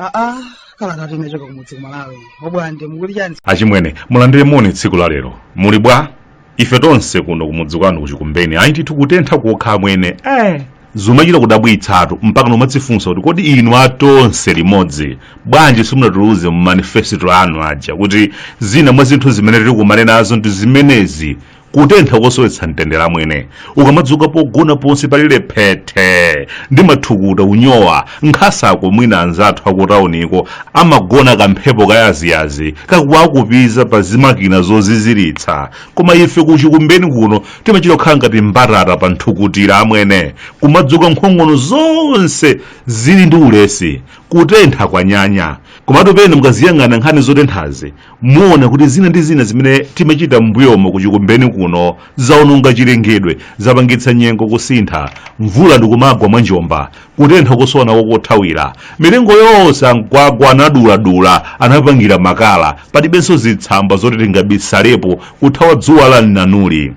aa kala tati inachoka kumudzi kuMalawi obwande mukuti chiyani achimwene mulandire moni tsiku la lero muli bwa ife tonse kuno kumudzi kwanu kuchikumbeni ayi ndithu kutentha kokha amwene eh zomachita kudabwitsatu mpaka nomadzifunsa kuti kodi inu atonse limodzi bwanji simunatuluze mu manifesto anu aja kuti zina mwa zinthu zimene tidzakumane nazo ndi zimenezi kutentha kosowetsa mtendere amwene ukamadzuka pogona ponse palile phethe ndi mathukuta unyowa nkhasako mwina anzathu akutauniko amagona kamphepo kayaziyazi kakuwakupiza pa zimakina zoziziritsa koma ife kuchikumbeni kuno timachita kukhala ngati mbatata pa nthukutira amwene kumadzuka nkhongono zonse zili ndi ulesi kutentha kwanyanya komatu pena mukamaziyang'ana nkhani zotenthazi muona kuti zina ndi zina zimene timachita m'mbuyomo kuchikumbeni kuno zaononga chilengedwe zapangitsa nyengo kusintha mvula ndikumagwa mwa njomba kutentha kosowa kothawira mitengo yonse ankwagwa anaduladula anapangira makala palibenso zitsamba zoti tingabisalepo kuthawa dzuwa la mnanuli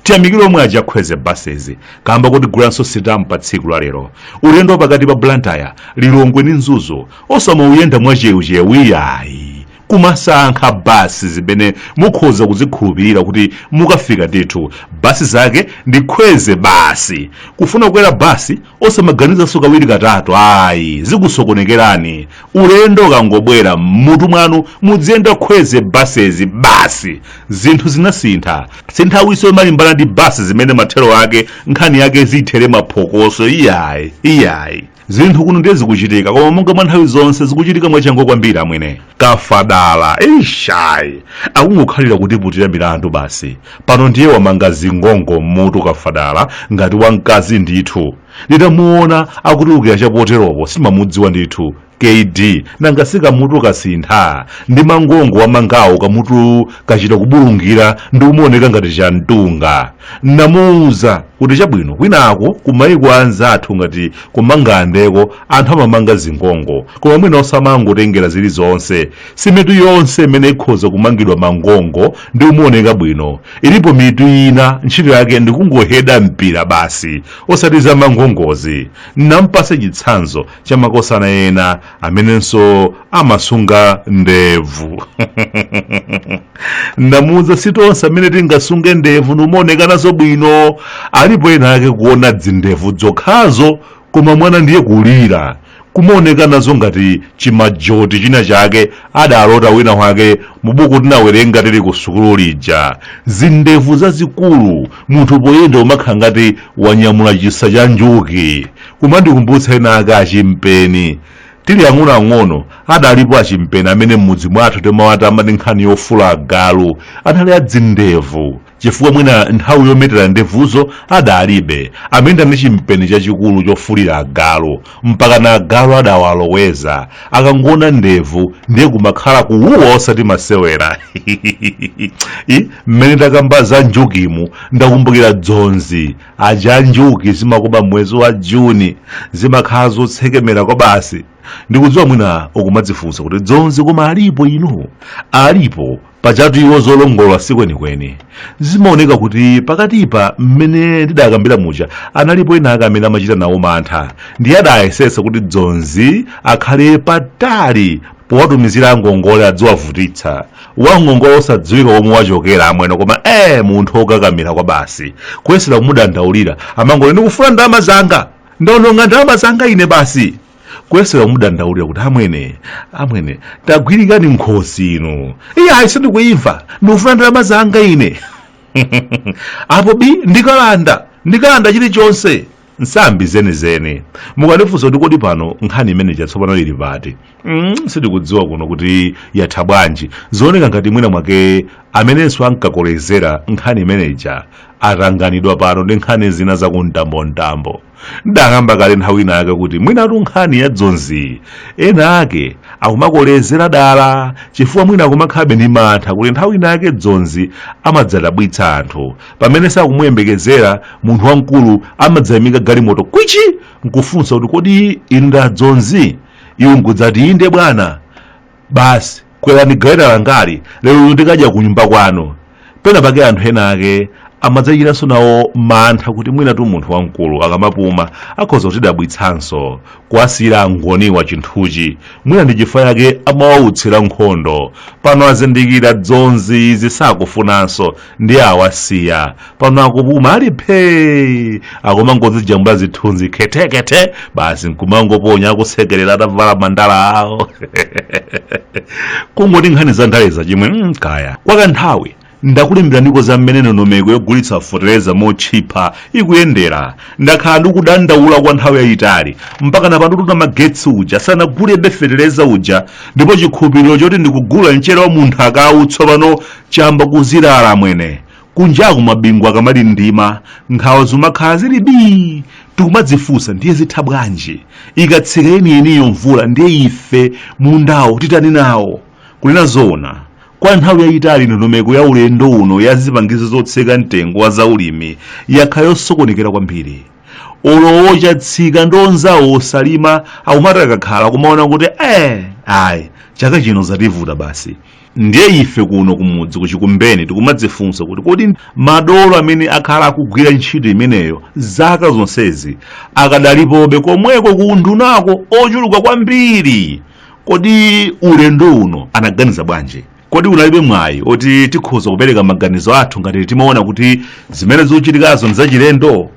tiyamikire omwe a Kwezy Buses kamba kuti agulanso sitamu pa tsiku la lero ulendo wapakati pa blantyre lilongwe ndi mzuzu osamauyenda mwachewuchewu iyayi kumasankha basi zimene mukhoza kuzikhulupirira kuti mukafika ndithu basi zake ndi Kwezy basi kufuna kukwera basi osamaganizanso kawiri katatu ayi zikusokonekerani ulendo ukangobwera m'mutu mwanu mudziyenda Kwezy Buses basi zinthu zinasintha si nthawinso yomalimbana ndi basi zimene mathero ake nkhani yake zithere maphokoso iyayi iyayi zinthu kuno ndiye zikuchitika koma monga mwa nthawi zonse zikuchitika mwachangu kwambiri amwene kafadala ishayi akungokhalira kutiputira milandu basi pano ndiye wamanga zingongo mmutu kafadala ngati wamkazi ndithu nditamuona akutulukira chapoteropo sinamudziwe ndithu kd nanga si kamutu kasintha ndi mangongo wamangawo kamutu kachita kubulungira ndi kumaoneka ngati chamtunga namuuza kuti chabwino kwinako kumayiko anzathu ngati kumangalandeko anthu amamanga zingongo koma mwina osamangotengera zilizonse si mitu yonse imene ikhoza kumangidwa mangongo ndi kumaoneka bwino ilipo mitu ina ntchito yake ndikungoheda mpira basi osati za mangongozi namupatsa chitsanzo cha makosana ena amenenso amasunga ndevu ndamuuza si tonse amene tingasunge ndevu nkumaoneka nazo bwino alipo ena ake kuona dzindevu dzokhazo koma mwana ndiye kulira kumaoneka nazo ngati chimajoti china chake adalota wina wake mubuku tinawerenga tili ku sukulu lija zindevu zazikulu munthu poyenda umakhala ngati wanyamula chisa cha njuchi kumandikumbutsa ena ake achimpeni tili ang'onoang'ono adalipo achimpeni amene m'mudzi mwathu timawatama ati nkhani yofula agalu anali adzindevu chifukwa mwina nthawi yometera ndevuzo adalibe amene anali ndi chimpeni chachikulu chofulira agalu mpaka na agalu adawaloweza akangoona ndevu ndiye kumakhala kuwuwa osati masewera I, mmene takamba za njuchimu ndakumbukira dzonzi aja njuchi zimakoma mwezi wa juni zimakhala zotsekemera kwabasi ndikudziwa mwina mukumadzifunsa kuti dzonzi koma alipo inu alipo pajatu iwo zolongolola si kwenikweni zimaoneka kuti pakatipa mmene ndidakambira muja analipo ena ake amene amachita nawo mantha ndiye adayesesa kuti dzonzi akhale patali powatumizira angongole adziwavutitsa wangongole osadziwika komwe wachokera amwene koma ee munthu okakamira kwabasi kuyesera kumudandaulira amangoti ndikufuna ndalama zanga ndaononga ndalama zanga ine basi kuyesera kumudandaulira kuti amwene amwene tagwirikani nkhosi inu iye ayi sindikuimva ndikufuna ndalama zanga ine apo bi ndikalanda ndikalanda chilichonse nsambi zenizeni mukandifunsa kuti kodi pano nkhani imene ija tsopano ili pati mm, sitikudziwa kuno kuti yatha bwanji zooneka ngati mwina mwake amenenso ankakolezera nkhani imene ija atanganidwa pano ndi nkhani zina zakumtambontambo ndakamba kale nthawi ina yake kuti mwinatu nkhani ya dzonzi ena ake akumakolezera dala chifukwa mwina akumakhalabe ndi mantha kuti nthawi ina yake dzonzi amadzadabwitsa anthu pamene sakuyembekezera munthu wamkulu amadzayimika galimoto kwichi nkufunsa kuti kodi inu ndi adzonzi iwo nkudzati inde bwana basi kwerani galeta langali lero inu tikadya ku nyumba kwanu pena pake anthu ena ake amadzachitanso nawo mantha kuti mwinatu munthu wamkulu akamapuma akhoza kutidabwitsanso kuwasiyira angoniwa chinthuchi mwina ndi chifukwa yake amawautsira nkhondo pano azindikira dzonzi izi sakufunanso ndi awasiya pano akupuma ali phee akumangozijambula zithunzi khethekhethe basi nkumangoponya akusekerera atavala mandala awo kungoti nkhani za ndaleza achimwene kaya kwa kanthawi ndakulemberaniko za mmene ndondomeko yogulitsa fotereza motchipa ikuyendera takhala tikudandaula kwa nthawi yayitali mpaka napano Tutamagetsi uja sanagulebe fetereza uja ndipo chikhulupiriro choti tigula mchere wa munthu wakauwu tsopano Chayamba kuzilala amwene. Kunjaku mabingu akamandindima nkhawa zimakhala zili bii tikumadzifunsa ndiye zitha bwanji? Ikatsika yeniyeniyo mvula ndiye ife mundawo titani nawo? Kunena zoona, kwa nthawi yayitali ndondomeko ya ulendo uno ya zipangizo zotsika mtengo wa zaulimi yakhala yosokonekera kwambiri. Olo a Chatsika ndi anzawo osalima akumati akakhala kumaona kuti eeh ayi chaka chino zativuta basi. Ndiye ife kuno kumudzi ku Chikumbeni tikumadzifunsa kuti kodi madolo amene akhala akugwira ntchito imeneyo zaka zonsezi akadalipobe komweko ku undunako ochuluka kwambiri? Kodi ulendo uno anaganiza bwanji? Kodi unalibe mwayi woti tikhoza kupereka maganizo athu ngati timaona kuti zimene zikuchitikazo n'zachilendo?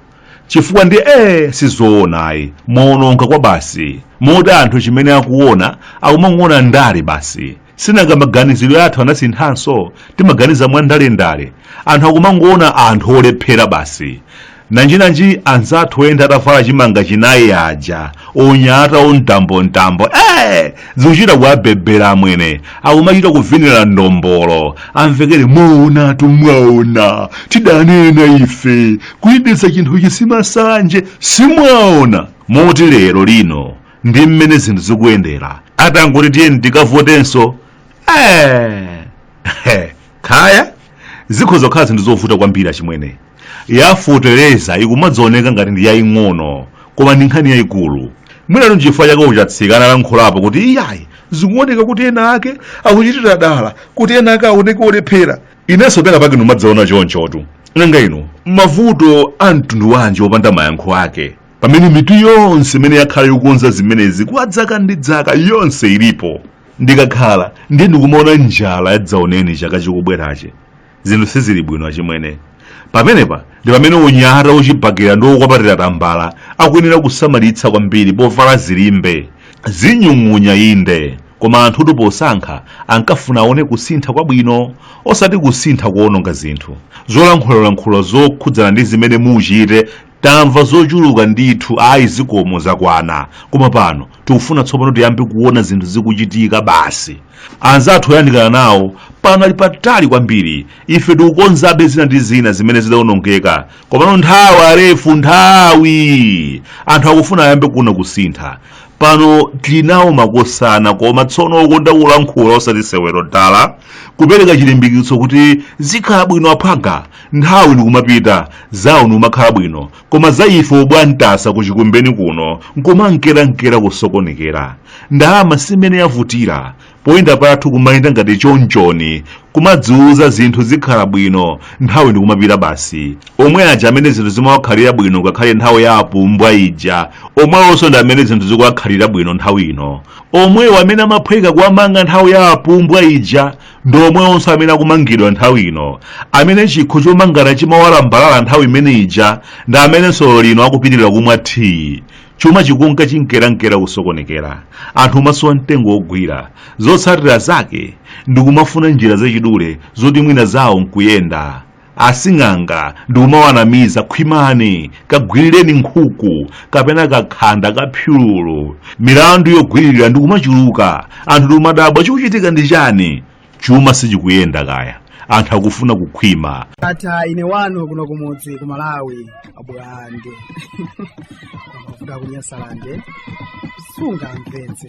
chifukwa ndi ee sizoona ayi mwaononga kwabasi moti anthu chimene akuona akumangoona ndale basi sinanga maganizidwe athu anasinthanso timaganiza mwa ndalendale anthu akumangoona anthu olephera basi nanjinanji anzathu oyenda atavala chimanga chinayi aja anyata amtambomtambo ee zikuchita kuwabebera amwene akumachita kuvinira ndombolo amvekere mwaonatu mwaona tidanena ife kuyendetsa chinthuchi si masanje simwaona moti lero lino ndi mmene zinthu zikuyendera atangoti tiyeni tikavotenso eh. kaya zikhoza kukhala zinthu zovuta kwambiri achimwene yafotereza ikumadzaoneka ngati ndi yaying'ono koma ndi nkhani yayikulu mwinatu nchifukwa chake a Chatsika analankhulapo kuti iyayi zikuoneka kuti ena ake akuchitira dala kuti ena ake aoneke olephera inenso pena pake ndimadzaona chonchotu nanga inu mavuto a mtundu wanji opanda mayankho ake pamene mitu yonse imene yakhala yokonza zimenezi kwa dzaka ndi dzaka yonse ilipo ndikakhala ndiye ndikumaona njala yadzaoneni chaka chikubwerachi zinthu sizili bwino achimwene pamenepa ndi pamene anyata achibakera ndi okwapatira tambala akuyenera kusamalitsa kwambiri povala zilimbe zinyung'unya inde koma anthutu posankha ankafuna aone kusintha kwabwino osati kusintha koononga zinthu zolankhulalankhula zokhudzana ndi zimene muchite Tamva zochuluka ndithu ayi zikomo zakwana koma pano tikufuna tsopano tiyambe kuona zinthu zikuchitika basi. Anzathu oyandikana nawo pano ali patali kwambiri ife tikukonzabe zina ndi zina zimene zidawonongeka komano nthawi arefu nthawi anthu akufuna ayambe kuona kusintha pano tili nawo makosana koma tsono okonda kulankhula osati sewero dala kupereka chilimbikitso kuti zikhala bwino aphwanga nthawi ndikumapita zawo nikumakhala bwino koma za ife Obwantasa ku Chikumbeni kuno nkumankerankera kusokonekera ndalama simene yavutira poyenda pathu kumayenda ngati chonchoni kumadziuza zinthu zikhala bwino nthawi ndikumapita basi omwe aja amene zinthu zimawakhalira bwino ngakhale nthawi ya apumbwa ija omwewonso ndi amene zinthu zikuwakhalira bwino nthawi ino omwewo amene amaphweka kuwamanga nthawi ya apumbwa ija ndi omwewonso amene akumangidwa nthawi ino amene chikho chomangana chimawalambalala nthawi imene ija ndi amenenso lero lino akupitirira kumwa thiyi chuma chikunka chinkerankera kusokonekera anthu kumasowa mtengo wogwira zotsatira zake ndi kumafuna njira zachidule zoti mwina zawo nkuyenda asing'anga ndikumawanamiza khwimani kagwirireni nkhuku kapena kakhanda kaphululu milandu yogwiririra ndikumachuluka anthu ndikumadabwa chikuchitika ndi chani chuma sichikuyenda kaya anthu akufuna kukhwima Ndatha ine wanu kuno kumudzi ku Malawi. abulande kuvuga kunyasalande sungamvetse